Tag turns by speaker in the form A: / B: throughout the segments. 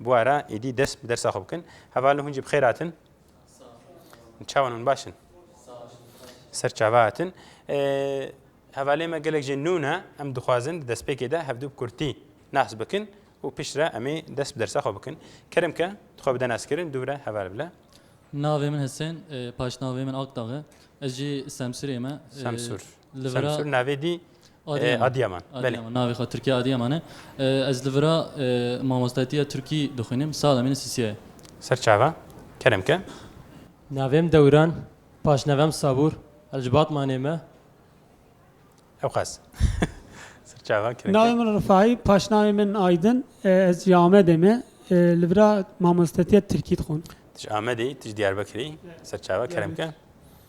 A: Bûara êdî dest bi dersa xwe bikin. Hevalin hûn jî bi xêr hatin. Çawan hûn baş in. Ser çava hatin. Hevalê me gelek jê nû ne em dixwazin di destpêkê de hevdû bi kurtî nas bikin û piştre em ê dest bi dersa xwe bikin. Kerim ke dixwe bide naskirin dûvre heval bile. Navê min Hesen, paşnavê min Akdag e. Ez jî Semsûrê me. Semsûr. Li vir a navê dî Adiyaman. Adiyaman navê xwe Tirkiye Adiyaman e. Ez li vir a mamostetîya Tirkî dixwînim. Sala min Sisiye ye. Ser çava kerem ke. Navem Dewran, paşnavem Sabur, ez ji Batmanê me. Ewqas. Ser çava kerem ke. Navê min Rifai, paşnavê min Aydin, ez ji Amedê me. Li vir a mamostetîya Tirkî dixwin. Tu ji Amedê yî, tu ji Diyarbekirê yî. Ser çava kerem ke.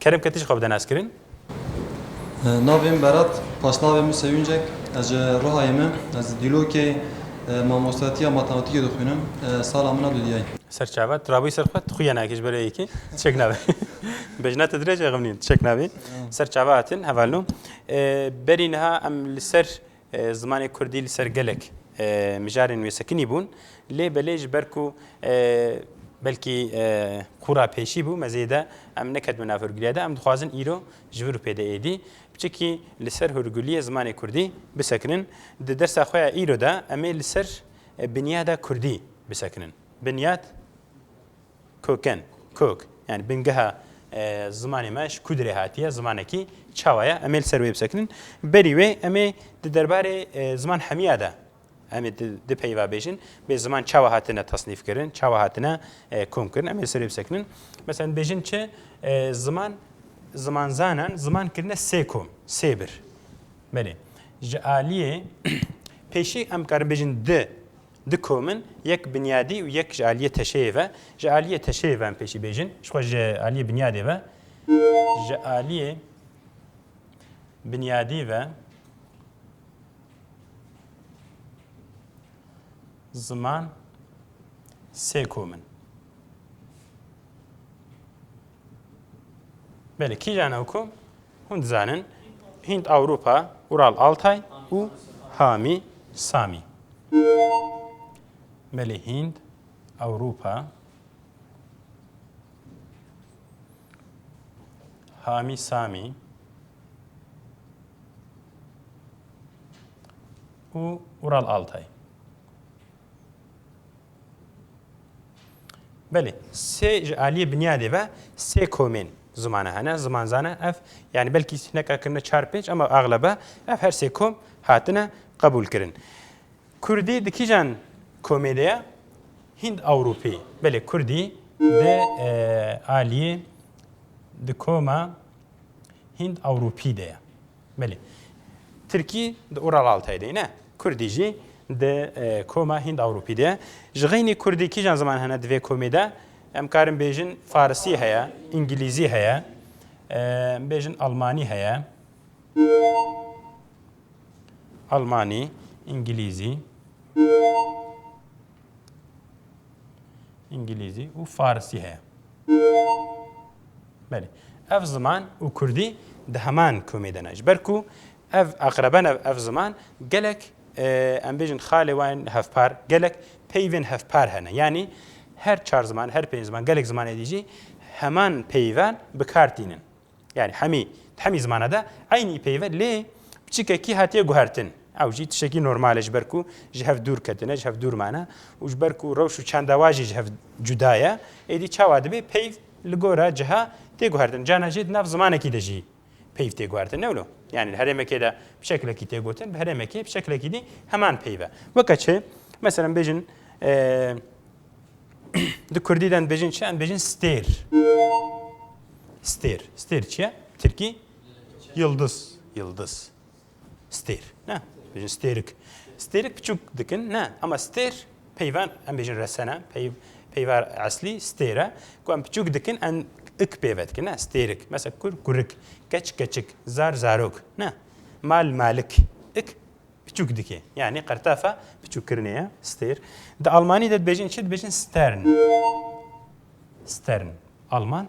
A: Kerem Ketiş xwe bide naskirin. Navê min Berat, paşnavê min Sewîncek. Ez ji Rihayê me. Ez Dîlokê mamostatiya matematîkê dixwînim. Sala min a dudiyayî. Serçava, tu rabûyî ser xwe, tu xuya nayekî ji ber yekê. Çek nabê. Bejna te dirêj e, xemnîn, çek nabê. Serçava hatin hevalno. Berî niha em li ser Zimanê kurdî li ser gelek mijarên wê sekinî bûn lê belê ji ber ku belkî qûra pêşî bû me zêde em neketime nav hûrgiliya de em dixwazin îro ji vir û pê de êdî biçikî li ser hûrgiliyê zimanê kurdî bisekinin. Di dersa xwe ya îro de em ê li ser binyada kurdî bisekinin. Binyad. Koken, kök, yani bingeha zimanê me ji kûdirê hatiye, zimanekî çawa ye? Em ê li ser wê bisekinin. Berî wê em ê di derbarê ziman hemiya de em ê di peyva bêjin bê ziman çawa hatine tasnîfkirin, çawa hatine komkirin em ê li ser wê bisekinin. Mesela dibêjin çi ziman zimanzanan ziman kirine sê kom, sê bir. Belê. Ji aliyê pêşî em karin bêjin di Du komin, yek binyadî û yek ji aliyê teşeyê ve. Ji aliyê teşeyê ve em pêşî bêjin. Ji xwe ji aliyê binyadê ve. Ji aliyê binyadî ve ziman sê komin. Belê kîjan ew kom? Hûn dizanin Hînd Ewropa, Ural Altay û Hamî Samî. Belê Hînd, Ewropa, Hamî Samî û Ural Altay. Belê, sê ji aliyê binyadê ve sê komên zimane hene, zimanzane ev yanî belkî hineka kirine çar pênc ama axlebe ev her sê kom hatine qebûlkirin. Kurdî di kîjan komê de ye? Hînd Ewropî. Belê Kurdî di aliyê di koma Hînd Ewropî de ye. Belê. Tirkî di Ural Altayê de ye ne? Kurdî jî di koma Hînd-Ewropî de ye. Ji xeynî kurdî kîjan ziman hene di vê komê de? Em karin bêjin farisî heye, îngîlîzî heye, em bêjin almanî heye. Almanî, îngîlîzî. İngilizce, u Farsi he. Belê. Ev ziman û kurdî di heman komê de ne. Ji ber ku ev aqreben ev ev ziman gelek em bêjin xalê wan in hevpar gelek peyvên hevpar hene. Yanî her çar ziman her pênc ziman gelek zimanê dî jî heman peyvan bi kar tînin. Yanî hemî di hemî zimana de eynî peyve lê piçikekî hatiye guhertin. Ew jî tişekî normal e ji ber ku ji hev dûr ketine ji hev dûr mane û ji ber ku rewş û çanda wa jî ji hev cuda ye êdî çawa dibê peyv Li gora ciha tê guhertin. Carna jî di nav zimanekî de jî peyv tê guhertin. Ne wilo? Yanî li herêmekê de bi şekilekî tê gotin, bi herêmekê bi şekilekî dî heman peyv e. Weke çi? Meselem bêjin di Kurdî de dibêjin çi? Em dibêjin stêr. Stêr. Stêr çi ye? Tirkî? Yildiz. Yildiz. stêr ne bêjin stêrik stêrik biçûk dikin ne ama stêr peyvan em bêjin resene pey peyvar eslî stêre ku em biçûk dikin em ik pêve dikin ne stêrik mesela kur kurik keç keçik zar zarok ne mal malik ik biçûk dikê yanî qertafa biçûkkirinê ye stêr di almanî de dibêjin çi dibêjin stern stern alman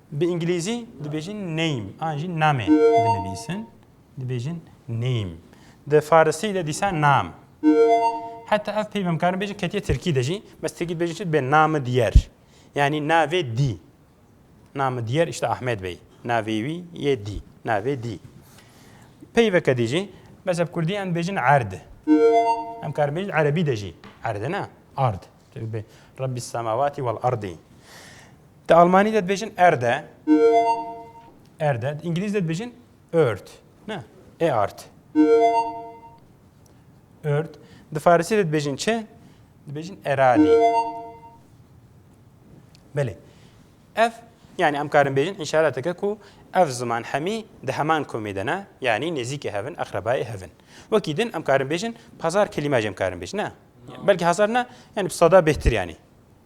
A: Bi îngilîzî dibêjin name an jî name dinivîsin. Dibêjin name. Di farisî de dîsa nam. Heta ev peyv em karin bêjin ketiye tirkî de jî. Bes tirkî dibêjin çi dibê name diyer. Yanî navê dî. Name diyer işte Ahmed Bey. Navê wî yê dî. Navê dî. Peyveke dî jî bes ev kurdî em dibêjin erd. Em karin bêjin erebî de jî erd ne. Ard. Rabbi semavati wal ardî. Di Almanî de dibêjin erde. Erde. Di Îngilîz de dibêjin erd. Ne? E art. Erd. Di Farisî de dibêjin çi? Dibêjin eradî. Belê. Ev yani em karin bêjin inşalateke ku ev ziman hemî di heman komê de ne yanî nêzîkê hevin exrebayê hevin. Wekî din em karin bêjin pazar kelîmaj em karin bêjin ne. Belkî hezar ne yani bi sada bêhtir yanî.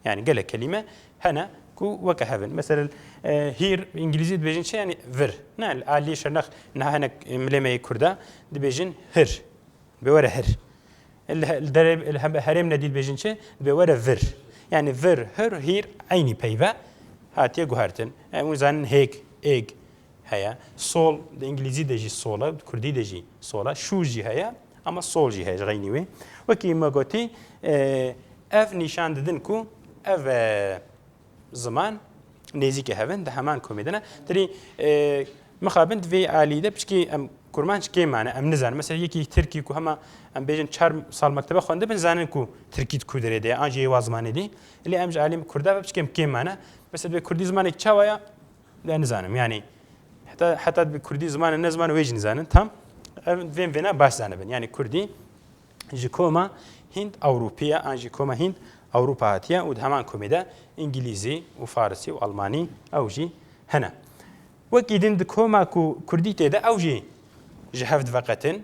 A: Yani gelek kelîme hene ku weke hev in. Meselin hîr îngilîzî dibêjin çi yani vir. Ne li aliyê şernex niha hinek milê me yê kurd e dibêjin hir. Dibê were hir. Li derê li hembe herêm nedî dibêjin çi dibê were vir. Yani vir, hir, hîr eynî peyve hatiye guhertin. Em hûn zanin hêk, êg heye. Sol di îngilîzî de jî sol e, di kurdî de jî sol e. Şû jî heye. Ama sol jî heye ji xeynî wê. Wekî me gotî ev nîşan didin ku ev ziman nêzîkê hev in di heman komê de ne. Tirî mixabin divê alî de piçkî em kurmanc kê mane em nizanin. Mesela yekî Tirkî ku hema em bêjin çar sal mektebe xwendibin zanin ku Tirkî di ku derê de an jê wa zimanê dî. Lê em ji alî Kurda ve piçkêm kê mane. Mesela divê Kurdî zimanê çawa ya Ya nizanim yanî heta heta divê Kurdî ziman e ne ziman e wê jî nizanin tam ev divên vêna baş zanibin yanî Kurdî ji koma Hînd Ewropî ye an jî koma Hînd Ewropa hatiye û di heman komê de Îngîlîzî û Farisî û Almanî ew jî hene. Wekî din di koma ku Kurdî tê de ew jî ji hev diveqetin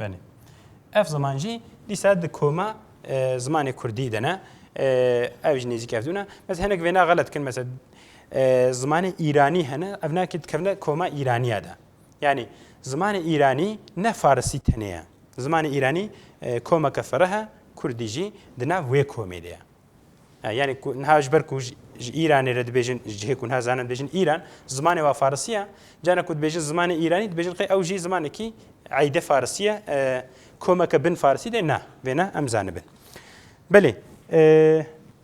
A: Benê. Ev ziman jî dîsa di koma zimanê Kurdî de ne. Ev jî nêzîk ev dû ne. Mes hinek vêna xelet kin mesela zimanê Îranî hene ev nakê dikevne koma Îraniya de. Yani zimanê Îranî ne Farisî tenê ye. Zimanê Îranî komeke ferre he, Kurdî jî di nav wê komê de ye. Yanî ku niha ji ber ku ji Îranê re dibêjin ji cihê ku niha zanin dibêjin Îran, zimanê wan farisî ye. Carna ku dibêjin zimanê Îranî dibêjin qey ew jî zimanekî eyde farisî ye. Komeke bin farisî de na. Vê ne em zanibin. Belê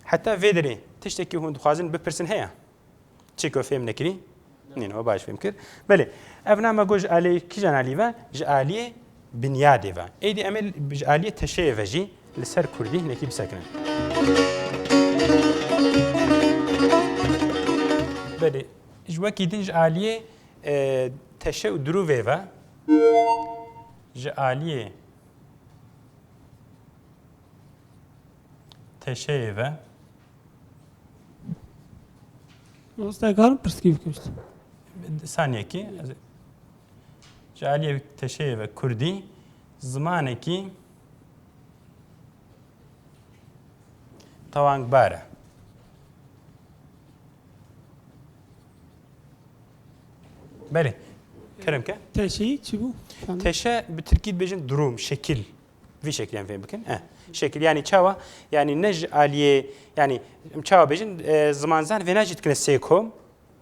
A: heta vê derê tiştekî hûn dixwazin bipirsin heye? Çêko fêm nekirî? Nîn o baş fêm kir. Belê. Ev na me got ji aliyê kîjan alî ve? Ji aliyê binyadê ve. Êdî em ê ji aliyê teşeyê ve jî li ser kurdî hinekî bisekinin. Belê. Ji wekî din ji aliyê teşe û dirûvê ve ji aliyê teşeyê ve Mostekarim pirsgî bikir. Saniyekî ji aliyê teşeyê ve Kurdî zimanekî tewangbar e. Belê. Kerem ke? Teşeyi çi bû? Teşe bi Tirkî dibêjin durum, şekil. Vî şekiliyan fêm bikin. E. Şekil yani çawa yani ne ji aliyê yani em çawa bêjin e, zimanzan vêna jî dikine sê kom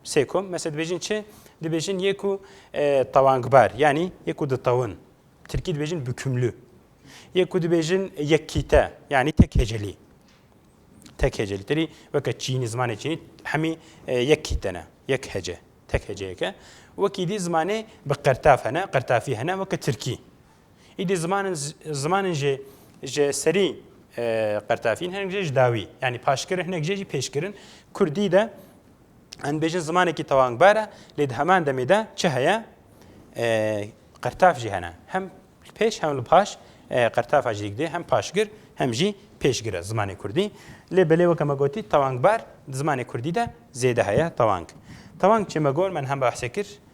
A: sê kom mesela dibêjin çi dibêjin yê ku e, tewangbar yani yê ku ditewin tirkî dibêjin bükümlü yê ku dibêjin yekkîte yani tek hecelî tek hecelî tirî weke çînî zimanê çînî hemî e, yekkîte ne yek hece tek heceyeke wekî dî zimanê bi qertaf hene qertafî hene weke tirkî Îdî ziman zimanên jê ji serî qertafîn hinek jê ji dawî yanî paşkirin hinek jê jî pêşkirin kurdî de em bêjin zimanekî tewangbar e lê di heman demê de çi heye qertaf jî hene hem li pêş hem li paş qertafa jî dikdê hem paşgir hem jî pêşgir e zimanê kurdî lê belê weke me gotî tewangbar di zimanê kurdî de zêde heye tewang tewang çê me got me niha behsê kir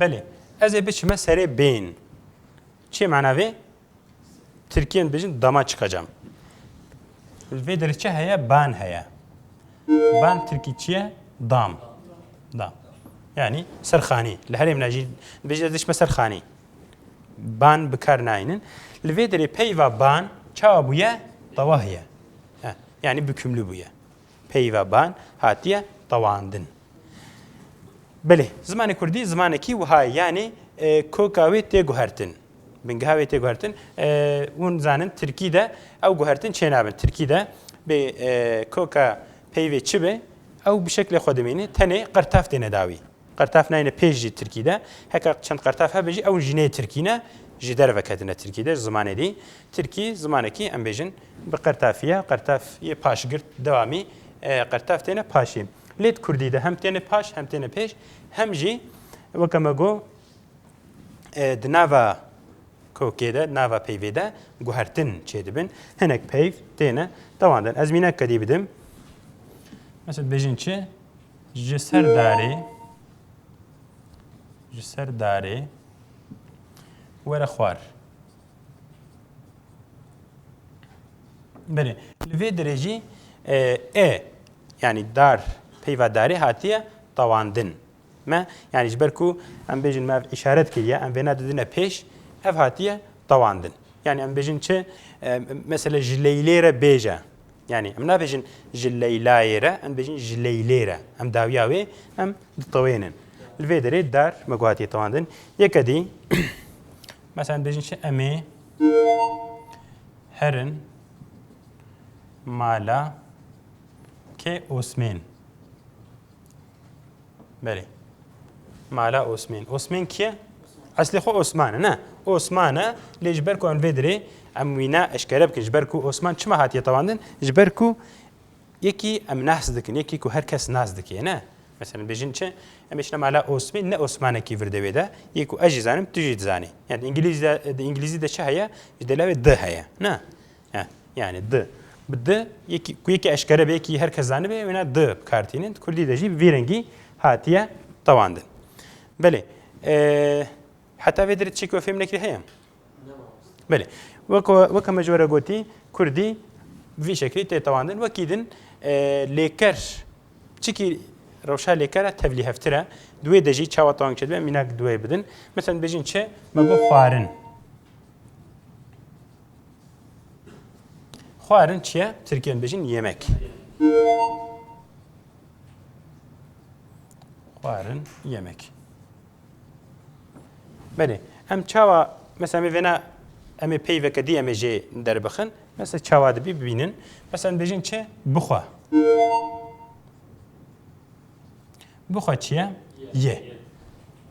A: Belê ez ê biçime serê bên. Çê mana vê? Tirkiyen dibêjin dama çıkacağım. Li vê derê çi heye? Ban heye. Ban Tirkî çi ye? Dam. Dam. Yani serxanî. Li herêm najî dibêjin ez diçime serxanî. Ban bikar nayinin. Li vê derê peyva ban çawa bûye? Tawah ye. Yanî bikûmlî bûye. Peyva ban hatiye tewandin. Belê, zimanê kurdî zimanekî wiha ye yanî koka wê tê guhertin. Bingeha wê tê guhertin. Hûn dizanin tirkî de ew guhertin çênabin. Tirkî de bê koka peyvê çi be ew bi şeklê xwe dimîne tenê qirtev têne dawî. Qertaf nayêne pêş jî tirkî de. Heke çend qertaf hebe jî ew jî nê tirkî ne, ji derve ketine tirkî de, ji zimanê dî. Tirkî zimanekî em bêjin bi qertafî ye. Qertaf yê paşgirt dewamî qertaf têne paşî. Lê di kurdî de hem têne paş hem têne pêş hem jî weke me got di nava kokê de, di nava peyvê de guhertin çê dibin. Hinek peyv têne dewandin. Ez mînek kedî bidim. Mesela dibêjin çi? Ji ser darê ji ser darê were xwar. Berê. Li vê dirê jî e yanî dar peyva darê hatiye tawandin. Me yanî ji ber ku em bêjin me ev îşaret kiriye em vêna didine pêş ev hatiye tawandin. Yani em bêjin çi mesela ji leylê re bêje Yanî em nabêjin ji Leylayê re, em dibêjin ji Leylê re. Em dawiya wê em ditewênin. Li vê derê dar me guhatiye tewandin. Yeke dî mesela em dibêjin çi em ê herin mala kê Osmên. Belê. Mala Osmên. Osmên kî ye? Eslê xwe Osman e ne. Osman e lê ji ber ku em vê dirê em wî ne eşkere bikin ji ber ku Osman çima hatiye tewandin ji ber ku yekî em nas dikin yekî ku her kes nas dikê ne. Mesela bêjin çi em êşine mala Osmên ne Osmanekî vir devê de yê ku ez jî zanim tu jî dizanî. Yani di İngilizce de İngilizce de çi heye? Ji delawê di heye. Ne. He, yani di. Bi di, yekî, ku yekî eşkere be, yekî her kes zanibe, wêna di bi kar tînin. Kurdî de jî vî rengî hatiye tewandin. Belê. Heta vê dirê çêkê we fêm nekirî heye? Belê. Weke me ji were gotî, Kurdî vî şeklî tê tewandin. Wekî din lêker çikî rewşa lêkera tevlî heftire. Duwê de jî çawa tewang çedibe mînak duwê bidin. Mesela bêjin çi? Me got xwarin. Xwarin çi ye? Tirkiyan bêjin yemek. Xwarin yemek. Belê. Em çawa mesela me vêna em ê peyveke dî em ê jê derbixin. Mesela çawa dibî bibînin. Mesela em bêjin çi? Bixwe. Bixwe çi ye? Ye.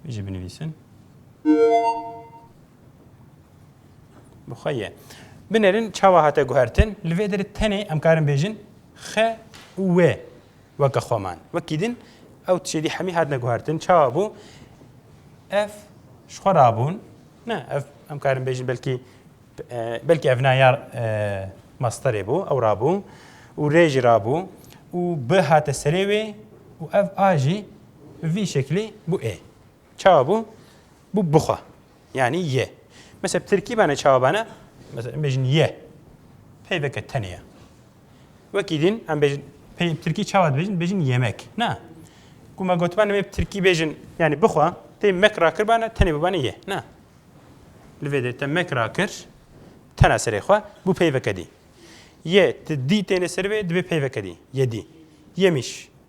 A: Jî binivîsin. Bi xwe ye. Binêrin çawa hate guhertin, li vê derê tenê em karin bêjin xe û wê weke xweman. Wekî din ew tişê dî hemî hatine guhertin, çawa bû? Ev ji xwe rabûn, ne ev em karin bêjin belkî belkî ev na ya masterê bû, ew rabû û rê jî rabû û bi hate serê wê û ev a jî bi vî şeklî bû ê. Çawa bû? Bû bixwe. Yanî ye. Mesela bi tirkî bane çawa bane? Mesela em bêjin ye. Peyveke tenê ye. Wekî dîn em bêjin pey bi tirkî çawa dibêjin? Bêjin yemek. Na. Ku me gotibane me bi tirkî bêjin yanî bixwe, pey mek rakir bane tenê bibane ye. Na. Li vê de te mek rakir tena serê xwe bû peyveke dî. Ye ti dî têne ser vê dibê peyveke dî. Yedî. Yemîş.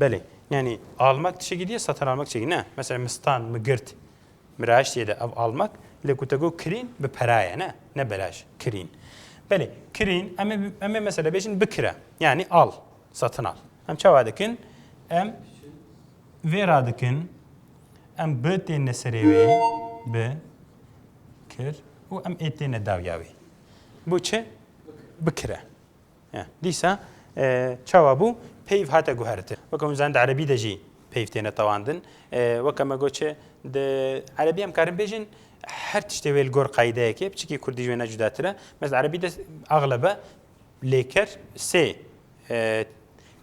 A: Belê yanî almak tişekî diye satan almak tişekî ne mesela mistan mi girt mi raştiye de ev almak lê ku te got kirîn bi pera ye ne ne belaş kirîn belê kirîn em ê em ê mesela bêjin bikire yanî al satin al em çawa dikin em vê ra dikin em bi têne serê wê bi kir û em ê têne dawya wê bû çi bikire Dîsa çawa bû? Peyv hate guhertin. Weke hûn zanîn di erebî de jî peyv têne tewandin. Weke me got çi di erebî em karin bêjin her tiştê wê li gor qeydeyekê piçikî kurdî ji wê ne cudatir e. Mes di erebî de axlebe lêker sê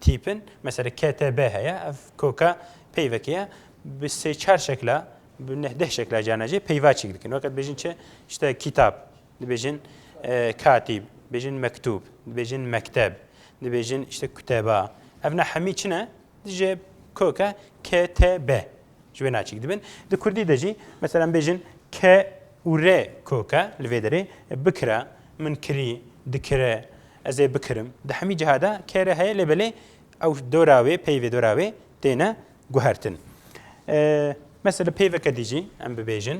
A: tîp in. Mesela KTB heye ev koka peyvekê ye. Bi sê çar şekla bi neh deh şekla carna jî peyvaçîk dikin. Weke dibêjin çi işte kitap, Dibêjin katîb, dibêjin mektûb, dibêjin mekteb, dibêjin işte kuteba. Ev ne hemî çi ne? Dijê koke KTB. Ji wê naçîk dibin. Di Kurdî de jî mesela bêjin K û R koke li vê derê bikire, min kirî, dikire, ez ê bikirim. Di hemî ciha de K re heye lê belê ew dora wê peyvê dora wê têne guhertin. Mesela peyveke dî jî em bibêjin.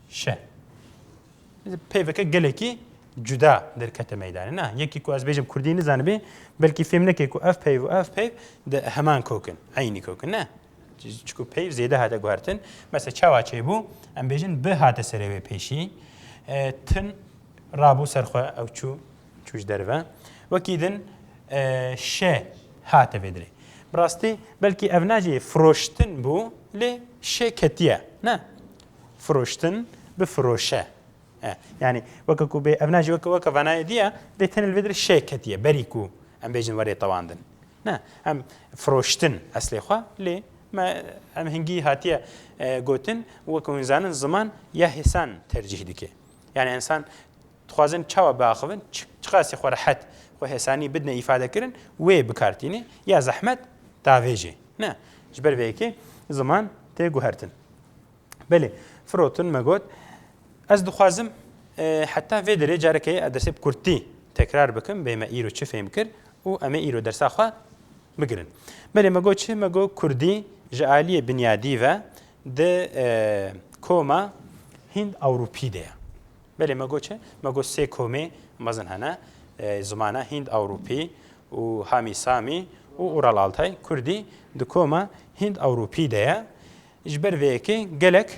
A: Şe. Pêveke gelekî cuda derkete meydanê. Na, yekî ku ez bêjim Kurdî nizanibê, belkî fêm neke ku ev peyv û ev peyv di heman kokin, eynî kokin. Ne. Çku peyv zêde hate guhertin. Mesela çawa çêbû, em bêjin bi hate serê wê pêşî. Tin rabû ser xwe ew çû çû ji derve. Wekî din şe hate vê dirê. Bi rastî belkî ev nacê firoştin bû lê şe ketiye. Ne. Firoştin bi firoşe. E, yani weke ku bê evna jî weke weke vanayê diye bê tenê li vê dirê şê ketiye berî ku em bêjin werê tewandin. Ne em firoştin eslê xwe lê me em hingî hatiye e, gotin weke hûn zanin ziman ya hêsan tercîh dike. Yani ensan dixwazin çawa biaxivin çiqasî xwe rehet xwe hêsanî bidine îfade kirin wê bikartîne ya zehmet tavêjê. Ne ji ber vê yekê ziman tê guhertin. Belê, firotin me got ez dixwazim heta vê derê carekê ez dersê bi kurtî tekrar bikim bê me îro çi fêm kir û em ê îro dersa xwe bigirin. Belê me got çi me got kurdî ji aliyê binyadî ve di koma hînd ewropî de ye. Belê me got çi me got sê komê mezin hene zimana hînd ewropî û hamî samî û ural altay kurdî di koma hînd ewropî de ye. Ji ber vê yekê gelek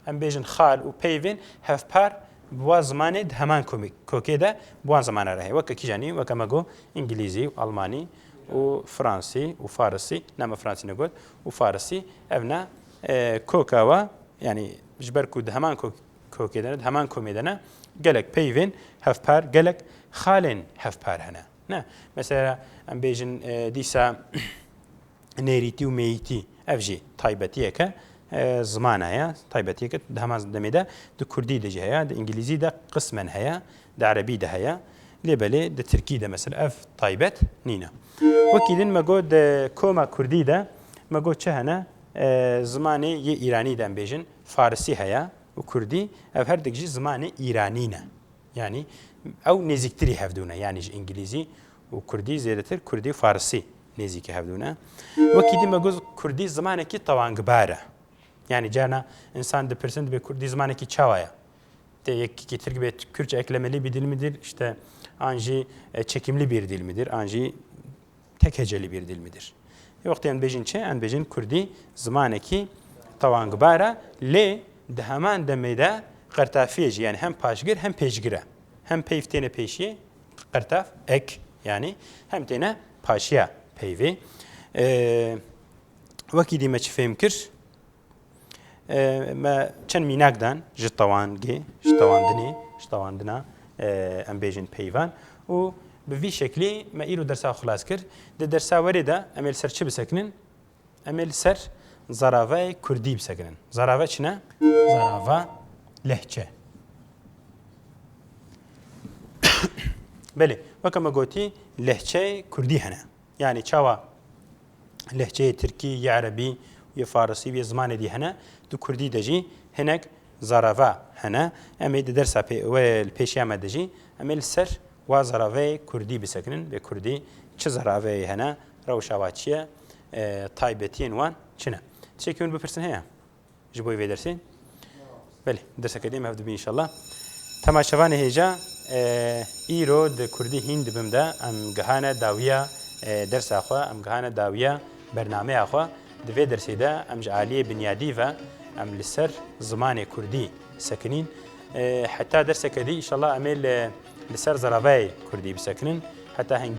A: em bêjin xal û peyvên hevpar bi wan zimanê di heman kokê de bi wan zimane re heye. Weke kîjanî weke me got îngilîzî û almanî û fransî û farisî na me fransî negot û farisî ev ne koka we yanî ji ber ku di heman kokê de ne di heman komê de ne gelek peyvên hevpar gelek xalên hevpar hene ne mesela em bêjin dîsa nêrîtî û mêyîtî ev jî taybetiyeke zimana ye taybetiyeke di hema demê de di kurdî de jî heye di îngilîzî de qismen heye di erebî de heye lê belê di tirkî de mesela ev taybet nîne wekî din me got di koma kurdî de me got çi hene zimanê yê îranî de em bêjin farisî heye û kurdî ev herdik jî zimanê îranî ne Yanî ew nêzîktirî hev dû ne. Yanî ji îngilîzî û kurdî zêdetir kurdî û farisî nêzîkî hev dû ne. Wekî dîme got kurdî zimanekî tewangbar e. Yanî carna însan dipirsin dibê kurdî zimanekî çawa ye? Tê yekî tirk bê kürtçe eklemelî bî dîl midîl, işte an jî çekîmlî bîr dîl midîr, an jî Tek hece li bîr dil midir. Yê wextê em bêjin çi? Em bêjin kurdî zimanekî tewangbar e lê di heman demê de qertafiyê jî yanî hem paşgir hem pêşgir e. Hem peyv têne pêşiyê qertaf ek yanî hem têne paşiya peyvê. Wekî dî me çi fêm kir? Me çend mînak dan ji tewangê ji tewandinê ji tewandina em bêjin peyvan û bi vî şeklî me îro dersa xilas kir. Di dersa werê de em ê li ser çi bisekinin? Em ê li ser zaravayê Kurdî bisekinin. Zarava çi ne? Zarava lehçe. Belê, weke me gotî lehçeyê Kurdî hene. Yanî çawa lehçeyê tirkî, yê erebî, yê farisî û yê zimanê dî hene, di kurdî de jî hinek zarava hene. Em ê di dersa wê li pêşiya me de jî em ê li ser wa zaraveyê kurdî bisekinin. Bê kurdî çi zaraveyê hene, rewşa wan çi ye, taybetiyên wan çi ne? Tiştekî min bipirsin heye? ji bo vê dersê belê derseke dê me hev dibî inşallah temaşevanê hêja îro di kurdî hîn dibim de em gihane dawiya dersa xwe em gihane dawiya bernameya xwe di vê dersê de em ji aliyê binyadî ve em li ser zimanê kurdî sekinîn heta derseke dî inşallah em ê li ser zeravayê kurdî bisekinin heta heng